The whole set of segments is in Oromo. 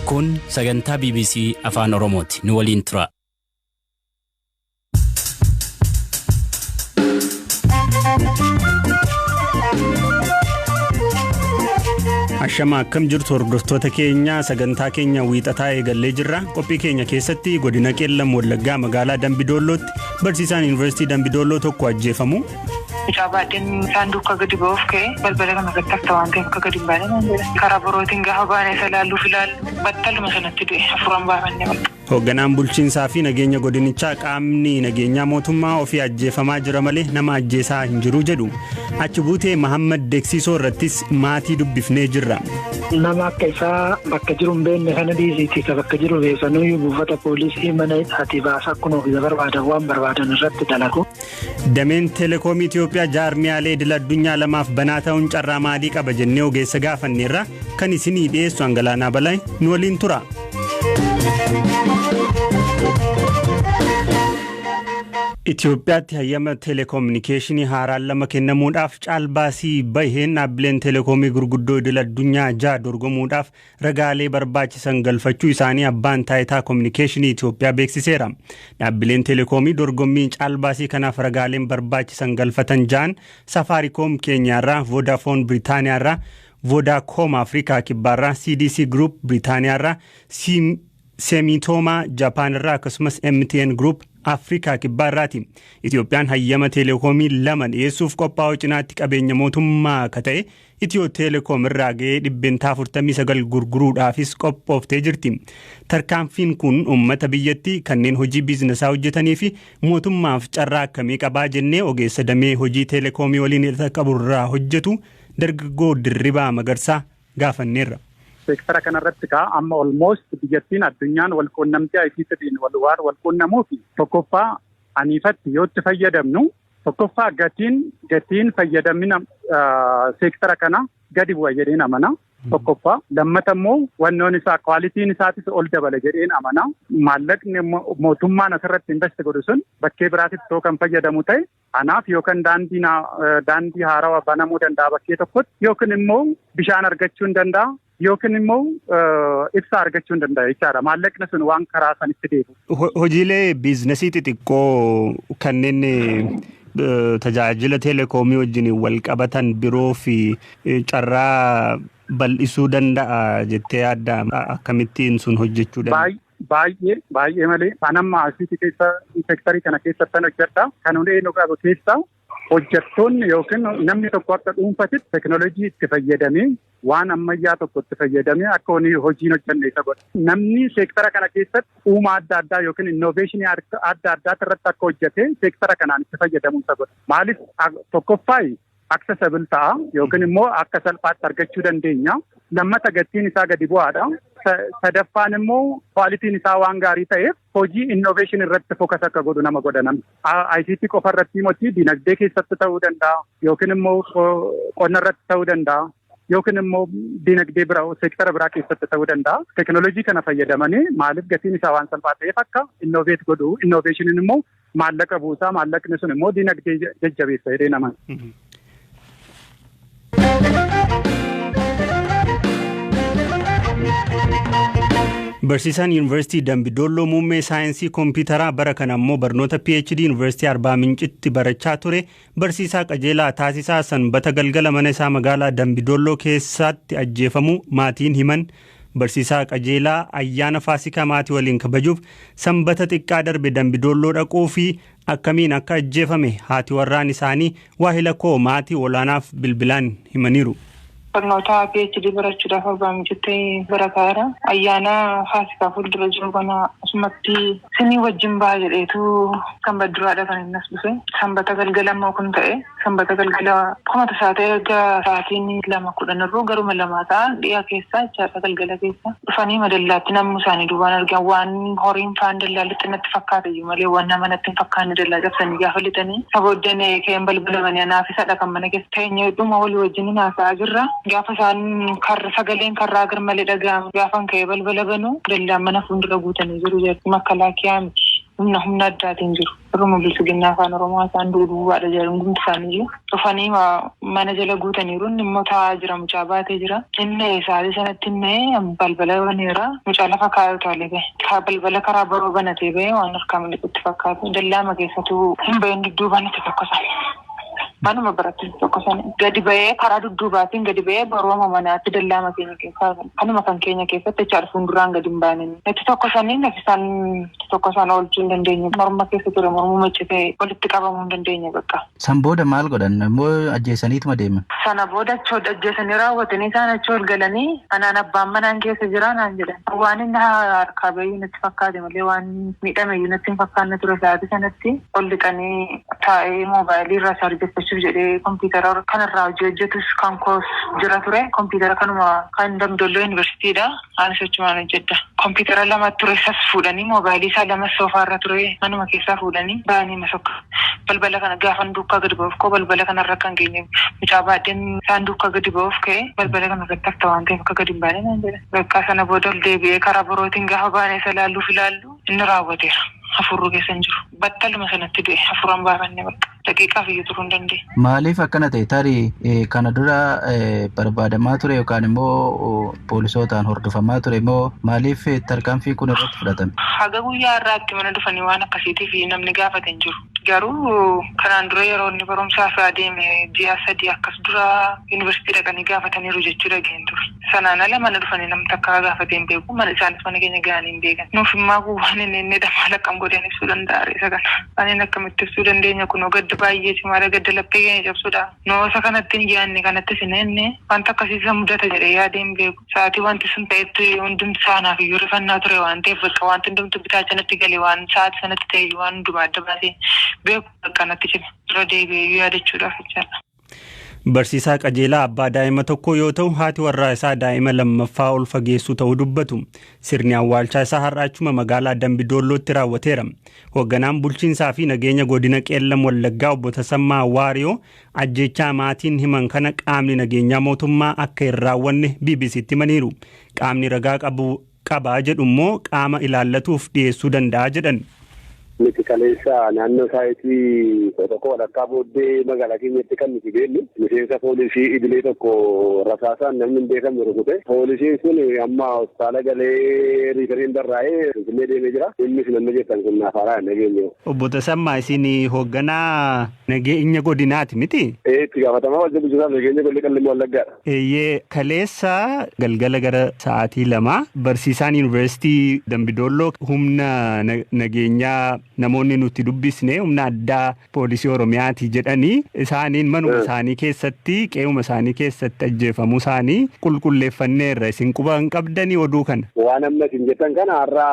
Kun sagantaa BBC Afaan Oromooti. Nu waliin tura. Ashama akkam jirtu hordoftoota keenya sagantaa keenya wiixataa eegallee jirra qophii keenya keessatti godina qeellam wallaggaa magaalaa dambidoolootti barsiisaan yuunivarsiitii dambidooloo tokko ajjeefamu Mucaa baadheen saanduqa gadi ba'uuf ka'e balbala kana irratti hafta waan ta'eef akka gadi hin baane naan jedhe. Karaa birootiin gaafa baane isa ilaalluuf ilaallu battaluma sanatti du'e. Hafuuraan baafannee bakka. Hoogganaan bulchiinsaa fi nageenya godinichaa qaamni nageenyaa mootummaa ofii ajjeefamaa jira malee nama ajjeesaa hin jiru jedhu. Achi buutee Mahammad Deeksiisoo irrattis maatii dubbifnee jirra. Nama akka isaa bakka jiru hin beekne kana dhiisiiti isa bakka jiru beeksanuyyuu buufata poolisii mana hidhaatii baasaa kunuuf isa barbaadan waan barbaadan irratti dalagu. Dameen Teelekoomii Itiyoophiyaa jaarmiyaalee idil addunyaa lamaaf banaa ta'uun carraa maalii qaba jennee ogeessa gaafanneerra kan isinii dhiyeessu Angalaanaa Balaay nu waliin tura. Itiyoophiyaatti hayyama teeleekoominikeeshinii haaraan lama kennamuudhaaf caalbaasii baheen dhaabbileen teeleekoomii gurguddoo idil addunyaa ja'a dorgomuudhaaf ragaalee barbaachisan galfachuu isaanii Abbaan Taayitaa Kominikeeshinii Itoophiyaa beeksiseera. Dhaabbileen Teleekoomii dorgommiin caalbaasii kanaaf ragaaleen barbaachisan galfatan ja'an Safaariikoom Keeniyaarraa, Voodafoon Biritaaniyaarraa, Vodaacom Afrikaa Kibbaarraa, CDC Group Biritaaniyaarraa, Semitoomaa Japaanirraa akkasumas MTN Group Afrikaa Kibbaarraati. Itoophiyaan hayyama teleekoomii lama dhiyeessuuf qophaa'uu cinaatti qabeenya mootummaa akka ta'e Itiyoo Teelekoom irraa ga'ee dhibbentaa 49 gurguruudhaafis qophooftee jirti. Tarkaanfiin kun uummata biyyattii kanneen hojii biizinasaa hojjetanii fi mootummaaf carraa akkamii qabaa jennee ogeessa damee hojii teelekoomii waliin hidhata qabu irraa hojjetu dargaggoo Dirribaa Magarsaa gaafanneerra. Seektara kanarratti kaa amma almost biyyattiin addunyaan walquunnamtii ICTtiin waan walquunnamuuf tokkoffaa aniifatti yoo itti fayyadamnu Tokkoffaa gatiin gatiin fayyadamina seektara kana gadi bu'a jedheen amana. Tokkoffaa lammata immoo wannoon isaa kwaalitiin isaatis ol dabala jedheen amana. Maallaqni mootummaan asirratti invest godhu sun bakkee biraatitti too kan fayyadamu ta'e anaaf yookaan daandii haarawaa banamuu danda'a bakkee tokkotti yookiin immoo bishaan argachuun danda'a Yookiin immoo ibsaa argachuu hin danda'u jechaadha. Maallaqni sun waan karaa sanitti deebi'u. Ho- Hojiilee biiznasii xixiqqoo kanneen eh, tajaajila teleekoomii wajjin wal qabatan biroo fi eh, carraa bal'isuu danda'a jettee yaadda A- akkamittiin sun hojjechuu danda'a? Baay- Baay'ee baay'ee malee anamma asiitii keessa sektarii kana keessatti kan hojjedha. Kan hundee nu qabu keessaa Hojjattoonni yookiin namni tokko akka dhuunfatitti teknolojii itti fayyadamee waan ammayyaa tokko itti fayyadamee akka hojiin hojjanne isa godha. Namni seektara kana keessatti uumaa adda addaa yookiin innoveeshinii adda addaa irratti akka hojjatee seektara kanaan itti fayyadamu isa godha. Maaliif tokkoffaa accessible ta'a yookiin immoo akka salphaatti argachuu dandeenya. Lammata gatiin isaa gadi bu'aadha. Sadaffaan immoo kwaalitiin isaa waan gaarii ta'eef Hojii innovation irratti focus akka godhu nama godha namni. ICT qofa irratti moti dinagdee keessatti ta'uu danda'a yookiin immoo qonna irratti ta'uu danda'a. yookiin immoo dinagdee bira seektara biraa keessatti ta'uu danda'a. Tekinooloojii kana fayyadamanii maaliif gatiin isaa waan salphaa ta'eef akka innoveet godhu innoveeshiniin immoo maallaqa buusaa maallaqni sun immoo dinagdee jajjabeessa jedhee nama. Barsiisaan Yuunivarsiitii Dambidolloo muummee saayinsii kompiitaraa bara kana immoo barnoota PhD Yuunivarsiitii Arbaa Mincitti barachaa ture barsiisaa qajeelaa taasisaa sanbata galgala mana isaa magaalaa Dambidolloo keessatti ajjeefamuu maatiin himan Barsiisaa Qajeelaa, Ayyaana Faasikaa maatii waliin kabajuuf Sanbata xiqqaa darbe Dambi Doolloo dhaquu fi akkamiin akka ajjeefame haati warraan isaanii waahila koo Maatii Olaanaaf bilbilaan himaniiru. Barnootaa PhD barachuudhaaf abbaa micuutti barataa jira. Ayyaana Faasikaa fuuldura jiru kana asumatti isinii wajjin baha jedheetu Sanbaduraadha kan inni as dhufe. Sanbata galgala immoo kun ta'e. Sanbata galgala akkuma tasaa ta'ee erga sa'aatiin lama kudhan irruu garuma lamaa ta'an dhiya keessaa jechaadha galgala keessa dhufanii madallaatti namni isaanii duubaan argan waan horiin faan dallaa lixxe natti fakkaata iyyuu malee waan nama natti hin fakkaanne dallaa cabsanii gaafa lixanii isa booddeen ka'een balbala banee anaaf isadha kan mana keessa teenyee dhuma walii wajjin haasa'aa jirra gaafa isaan karra sagaleen karraa garmalee dhaga'amu gaafan ka'ee balbala banuu dallaan mana fuuldura guutanii jiru jechuun makalaakiyaa miti. humna humna addaatiin jiru. Warruma biltsiginnaa afaan Oromoo haasa'an du'u duwwaadha jedhan hundumti isaaniiyyuu. Dhufanii mana jala guutaniiru. Inni immoo taa'aa jira. Mucaa baatee jira. Hin na'e sa'aatii sanatti hin na'e balbala baneera. Mucaa lafa kaa'ee utaalee ba'e. Kaa balbala karaa boroo banatee ba'e waan harkaa miliqutti fakkaatu. Dallaama keessatu hin ba'in dudduubaan itti tokkosan. Manuma biratti tokko sana gadi ba'ee karaa dudduubaatiin gadi ba'ee barooma manaatti dallaama keenya keessaa kanuma kan keenya keessatti jechaadha fuulduraan gadi hin baane. Natti tokko sanii natti isaan tokko isaan oolchuu hin dandeenye morma keessa ture mormuma iccitee walitti qabamuu hin dandeenye bakka. San booda maal godhan immoo ajjeesaniituma deeman. Sana booda achoo ajjeesanii raawwatanii isaan achoo ol galanii anaan abbaan manaan keessa jira naan jedhan. Waan inni harkaa bahii natti fakkaate. malee waan miidhame iyyuu natti hin fakkaanne ture sa'aatii sanatti. Ol dhiqanii taa'ee moobaayilii irraa chaarjeffachuuf jedhee kompiitara kan irraa hojii hojjetus kan koos jira ture. Kompiitara kanuma kan Damdolloo Yuunivarsiitii dha. Anis achumaan hojjedha. Kompiitara lama ture isas fuudhanii moobaayilii isaa lamas soofaa irra ture manuma keessaa fuudhanii ba'anii na sokkan. Balbala kana gaafan duukaa gadi ba'uuf ka'u balbala kana irra akka hin geenyeef mucaa baadheen isaan duukaa gadi ba'uuf ka'e balbala kana irratti hafta waan ta'eef akka gadi hin baane naan jedhan. Bakkaa sana booda ol deebi'ee karaa birootiin gaafa baanee isa ilaalluuf ilaallu inni raawwateera. Hafuurru keessa hin jiru. Battaluma sanatti du'e. Hafuuran baafanne bakka. Daqiiqaaf iyyuu turuu hin dandeenye. Maaliif akkana ta'e? Tarii kana dura barbaadamaa ture yookaan immoo poolisootaan hordofamaa ture moo maaliif tarkaanfiin kun irratti fudhatame? Haga guyyaa har'aatti mana dhufanii waan akkasiitiif namni gaafate hin jiru. Garuu kanaan dura yeroo inni barumsaaf adeeme ji'a sadii akkas dura yuunivarsiitii dhaqanii gaafataniiru jechuu dhaga'een ture. Sanaan ala mana dhufanii namni takka haa gaafatee hin beeku. Mana isaanis mana keenya gahanii hin beekan. Nuuf immaa kun waan hin eennedha maal akkam godheen ibsuu danda'a ree isa kana. Kanneen akkamitti ibsuu dandeenya kunoo gadda baayyee cimaadha gadda laphee keenya cabsudha. Nuu osa kanatti hin yaanne kanattis hin eenne wanta akkasii isa mudata jedhee yaadee hin beeku. Sa'aatii wanti sun ta'etti hundumti isaa anaaf iyyuu rifannaa ture waan ta'eef bakka wanti hundumtuu bitaacha natti gale waan sa'aatii sanatti ta'e iyyuu waan hundumaa adda baasee beeku bakka natti cime irra deebi'ee iyyuu yaadachuudhaaf jechaadha. Barsiisaa qajeelaa abbaa daa'ima tokkoo yoo ta'u haati warraa isaa daa'ima lammaffaa ol fageessuu ta'uu dubbatu. Sirni awwaalchaa isaa har'aachuma magaalaa Dambi Doollootti raawwateera. Hoogganaan bulchiinsaa fi nageenya godina Qeellam Wallaggaa obbo Tasammaa Waariyoo ajjeechaa maatiin himan kana qaamni nageenyaa mootummaa akka hin raawwanne BBC'tti himaniiru. Qaamni ragaa qabu qaba jedhu immoo qaama ilaallatuuf dhiyeessuu danda'a jedhan. Nuti kaleessa naannoo saayitii kudha tokko walakkaa booddee magaalaa keenyatti kan nuti deemnu miseensa poolisii idilee tokko rasaasaan namni hin beekamne rukute. Poolisiin sun amma hospitaala galee riifariin barraa'ee Finfinnee deemee jira. Innis namni jettan kun naaf haaraa hin dhageenye. Obbo Tasammaa isin hoogganaa nageenya godinaati miti? Ee itti gaafatamaa wajjin bulchiinsaa nageenya godina Qellem Wallaggaadha. Eeyyee, kaleessa galgala gara sa'aatii lamaa barsiisaan Yuunivarsiitii Dambidolloo humna nageenyaa namoonni nuti dubbisne humna addaa poolisii Oromiyaati jedhanii isaaniin manuma isaanii keessatti qe'uma isaanii keessatti ajjeefamuu isaanii qulqulleeffanneerra isin quba hin qabdanii oduu kana. Waan amma isin jettan kana har'a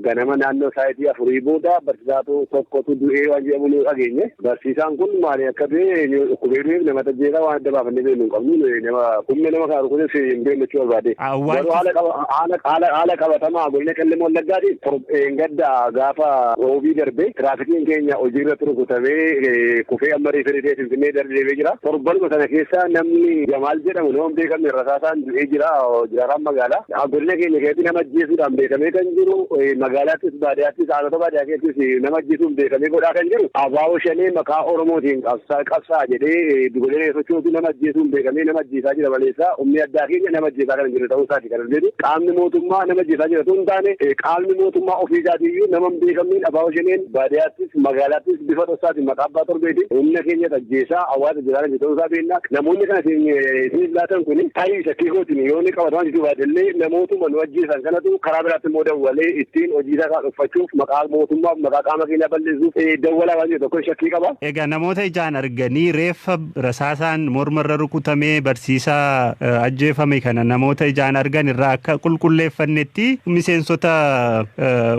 ganama naannoo sa'aatii afurii booda barsiisaatu tokkotu du'ee waan jedhamu nu dhageenye. Barsiisaan kun maali akka ta'e yoo dhukkubee du'eef nama tajjeesaa waan adda baafannee beeknu hin qabnu nuyi nama humna nama kana rukuteef hin beeknu jechuu barbaade. Garuu haala qaba- haala- haala- haala qabatamaa godina qellem wallaggaatiin tor- gadda gaafa roobii darbe tiraafikiin keenya hojiirratti rukutamee eh, kufee amma riiferii ta'ee finfinnee darbeebee jira. Torbanuma sana keessa namni Jamaal jedhamu nama hin beekamne rasaasaan du'ee jira jiraataan magaalaa. Godina keenya keessatti nama ajjeesuudhaan beekamee kan jiru magaalaattis baadiyyaattis aanota baadiyyaa keessattis nama ajjeesuun beekamee godhaa kan jiru abaaboo shanee maqaa Oromootiin qabsaa qabsaa jedhee dugolee reeffachuutu nama ajjeesuun beekamee nama ajjeesaa jira maleessaa humni addaa keenya nama ajjeesaa kan hin jirre ta'uu isaati kan hojjetu qaamni mootummaa nama ajjeesaa jira ta'uu hin taane qaamni mootummaa ofii isaatiiyyuu nama hin beekamneen abaaboo shaneen baadiyyaattis Magaalaattis bifa dhoksaatiin maqaa abbaa torbeetiin humna keenyatu ajjeesaa hawaasa jiraataniif ta'uu isaa beekna. Namoonni kana isin isiniif laatan kun tarii shakkii kootiin yoo inni qabatamaa jechuu baate illee namootuma nu ajjeesan kanatu karaa biraatti immoo dawwalee ittiin hojii isaa isaa dhokfachuuf maqaa mootummaaf maqaa qaama keenyaa balleessuuf dawwalaa waan jiru tokko shakkii qaba. Egaa namoota ijaan arganii reeffa Rasaasaan morma irra rukutamee barsiisaa ajjeefame kana namoota ijaan argan irraa akka qulqulleeffannetti miseensota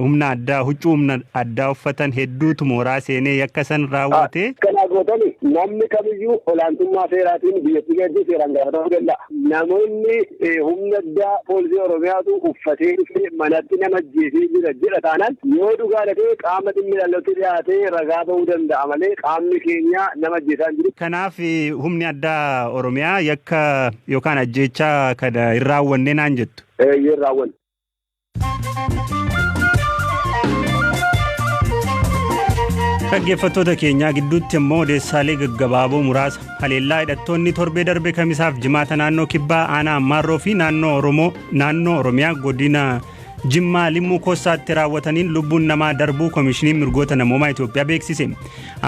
humna addaa huccuu humna addaa uffatan hedduutu mooraa seenee yakka san raawwate. Kanaa gootani namni kamiyyuu olaantummaa seeraatiin biyyattii keessatti seeraan gaafatamuu danda'a. Namoonni humna addaa poolisii Oromiyaatu uffatee dhufee manatti nama ajjeesee jira jedha taanaan yoo dhugaadha ta'e qaama dhimmi ilaallatutti dhiyaatee ragaa ba'uu danda'a malee qaamni keenya nama ajjeesaa hin jiru. Kanaaf humni addaa Oromiyaa yakka yookaan ajjeechaa kana hin raawwanne naan jettu? Eeyyee hin raawwanne. Dhaggeeffattoota keenyaa gidduutti immoo odeessaalee gaggabaaboo muraasa haleellaa hidhattoonni torbee darbe kamisaaf jimaata naannoo kibbaa aanaa ammaarroo fi naannoo oromoo naannoo oromiyaa godina jimmaa limmuu koossaatti raawwataniin lubbuun namaa darbuu koomishiniin mirgoota namoomaa Itoophiyaa beeksise.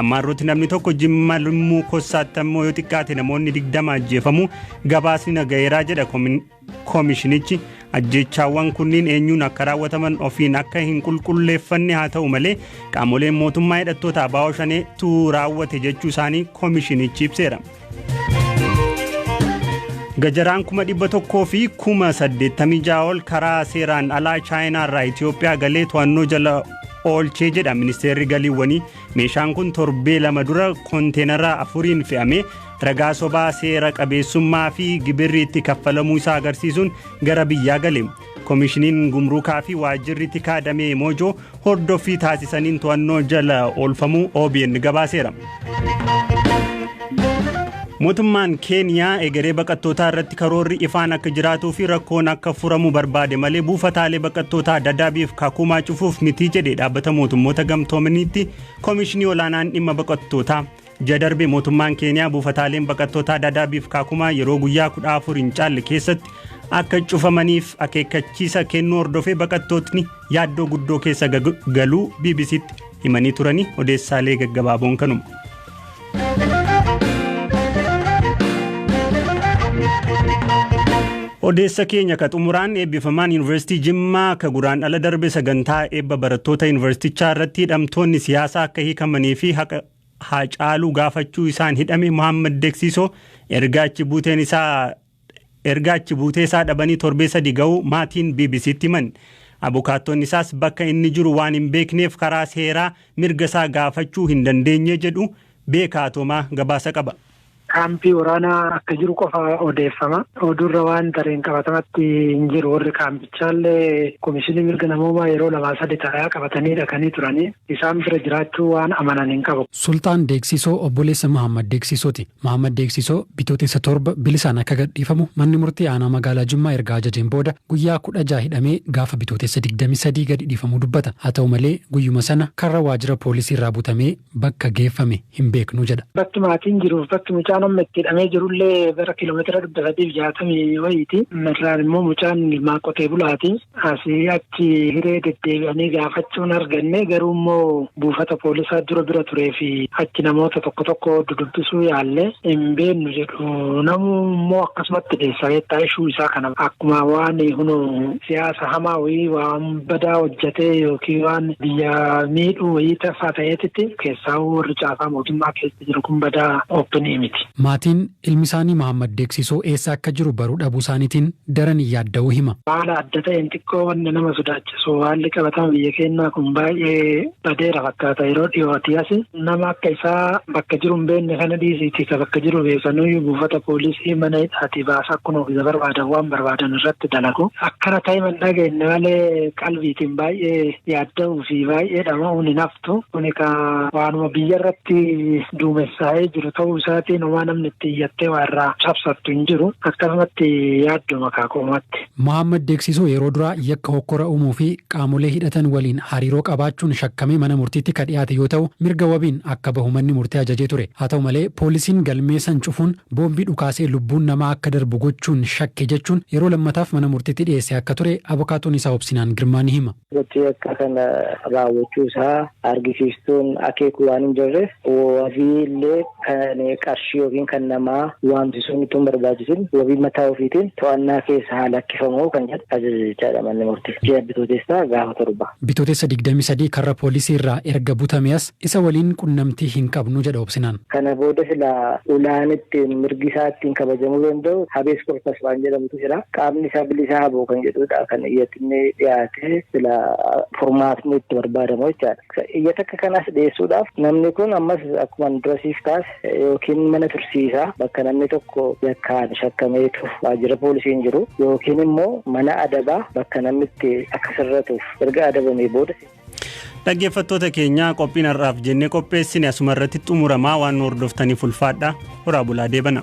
Ammaarrootti namni tokko jimma limmuu koossaatti ammoo yoo xiqqaate namoonni digdama ajjeefamu gabaasni nagayeeraa jedha Komishinichi ajjeechaawwan kunniin eenyuun akka raawwataman ofiin akka hin qulqulleeffanne haa ta'u malee qaamoleen mootummaa hidhattoota Abaawoo Shanee tu raawwate jechuu isaanii komishinichi ibseera. Gajaraan kuma dhibba tokkoo fi kuma saddeettamii ja'a ol karaa seeraan alaa Chaayinaa irraa Itoophiyaa galee to'annoo jala oolchee jedha ministeerri galiiwwanii. Meeshaan kun torbee lama dura konteenara afuriin fe'amee ragaa sobaa seera qabeessummaa fi gibirri itti kaffalamuu isaa agarsiisuun gara biyyaa gale. Komishiniin Gumruukaa fi Waajjirri Tikaa Damee Moojoo hordoffii taasisaniin to'annoo jala oolfamuu OBN gabaaseera. Mootummaan Keeniyaa egeree baqattootaa irratti karoorri ifaan akka jiraatuu fi rakkoon akka furamu barbaade malee buufataalee baqattootaa dadaabiif kakuumaa cufuuf mitii jedhe dhaabbata mootummoota gamtoomaniitti Komishinii Olaanaan Dhimma Baqattootaa. Ji'a darbe mootummaan Keeniyaa buufataaleen baqattootaa Dadaabiif Kaakumaa yeroo guyyaa 14 hin caalle keessatti akka cufamaniif akeekkachiisa kennuu hordofee baqattootni yaaddoo guddoo keessa galuu BBCtti himanii turanii odeessaalee gaggabaaboon kanuma. Odeessa keenya ka xumuraan eebbifamaan Yuunivarsiitii Jimmaa ka guraan ala darbe sagantaa eebba barattoota yuunivarsiitichaa irratti hidhamtoonni siyaasaa akka hiikamanii fi haqa Haacaaluu gaafachuu isaan hidhame Muhammad Deksiisoo erga achi buuteen isaa erga achi buutee isaa dhabanii torbee sadi ga'uu maatiin BBC'tti himan. Abukaattoonni isaas bakka inni jiru waan hin beekneef karaa seeraa mirga isaa gaafachuu hin dandeenye jedhu Beekaa Atoomaa gabaasa qaba. Kaampii waraanaa akka jiru qofa odeeffama. Oduurra waan tareen qabatamatti hin jiru. Warri kaampichaallee komishinii mirga namoomaa yeroo lamaa sadi xalayaa qabatanii dhaqanii turanii isaan bira jiraachuu waan amanan hin qabu. Sulxaan Deeksisoo obboleessa Mahaammad Deeksisooti. Mahaammad Deeksisoo Bitootessa torba bilisaan akka gadhiifamu manni murtii aanaa magaalaa Jimmaa erga ajajeen booda guyyaa kudha ja'a hidhamee gaafa Bitootessa digdamii sadii gadi dhiifamuu dubbata. Haa ta'u malee guyyuma sana karra waajjira poolisiirraa butamee bakka geeffame hin beeknu jedha. Bakki maatiin jiruuf bakki mucaan amma itti hidhamee jirullee gara kiiloomeetira dhibba sadiif jaatamii wayiiti. Irraan immoo mucaan ilmaa qotee bulaati. Asii achi hiree deddeebi'anii gaafachuun arganne garuu immoo buufata poolisaa dura bira turee fi achi namoota tokko tokko dudubbisuu yaalle hin beennu jedhu. Namuu immoo akkasumatti deessa beektaa ishuu isaa kana akkuma waan hunoo siyaasa hamaa wayii waan badaa hojjatee yookiin waan biyya miidhuu wayii tafaa ta'eetitti keessaawuu warri caasaa mootummaa keessa jiru kun badaa open miti. Maatiin ilmisaanii Mahaammad Deeksisoo eessa akka jiru baruu dhabuusaaniitiin daran yaadda'uu hima. Haala adda ta'een xiqqoo wanni nama sodaachisu haalli qabatama biyya keennaa kun baay'ee badeera fakkaata yeroo dhiyootii asi. Nama akka isaa bakka jiru hin beekne kana dhiisiitii isa bakka jiru beeku sanuyyuu buufata poolisii mana hidhaatii baasa akkuma ofiisa barbaadan waan barbaadan irratti dalagu. Akkana ta'ima hin dhageenye malee qalbiitiin baay'ee yaadda'uu fi baay'ee dhama'uun hin haftu. Kuni ka waanuma biyya irratti duumessaa'ee jiru ta'uu isaatiin homaa namni itti iyyattee waa irraa cabsattu hin jiru. Akkasumatti yaadduma kaa qoomatti. Mohammad Deeksisoo yeroo duraa yakka hokkora uumuu fi qaamolee hidhatan waliin hariiroo qabaachuun shakkamee mana murtiitti ka dhiyaate yoo ta'u, mirga wabiin akka bahu manni murtii ajajee ture. Haa ta'u malee, poolisiin galmee san cufuun boombii dhukaasee lubbuun namaa akka darbu gochuun shakke jechuun yeroo lammataaf mana murtiitti dhiyeessee akka ture abokaatoon isaa Obsinaan Girmaa ni hima. Gochi yakka kana raawwachuu isaa argisiistuun akeeku waan hin jirreef wabii illee. kan qarshii yookiin kan namaa waamsisuun utuu hin barbaachisin wabii mataa ofiitiin to'annaa keessa haa lakkifamu kan jedhu ajaja jechaadha manni murtii. Ji'a Bitootessaa gaafa torba. Bitootessa 23 karra poolisii irraa erga butamee as isa waliin qunnamtii hin qabnu jedha Obsinaan. Kana booda silaa ulaan ittiin mirgi isaa ittiin kabajamuu danda'u habees korpas waan jedhamutu jira. Qaamni isaa bilisaa haboo kan jedhudha kan iyyatni dhiyaatee silaa furmaatni itti barbaadamu jechaadha. Iyyatakka kanas dhiyeessuudhaaf namni kun ammas akkuman dura siif kaase yookiin mana tursiisaa bakka namni tokko yakkaan shakkameetu waajjira poolisii hin jiru yookiin immoo mana adabaa bakka namni itti akka sirratuuf erga adabamee booda. Dhaggeeffattoota keenya qophiin har'aaf jennee qopheessine asuma irratti xumuramaa waan nu hordoftaniif ulfaadha. Horaa bulaa deebana.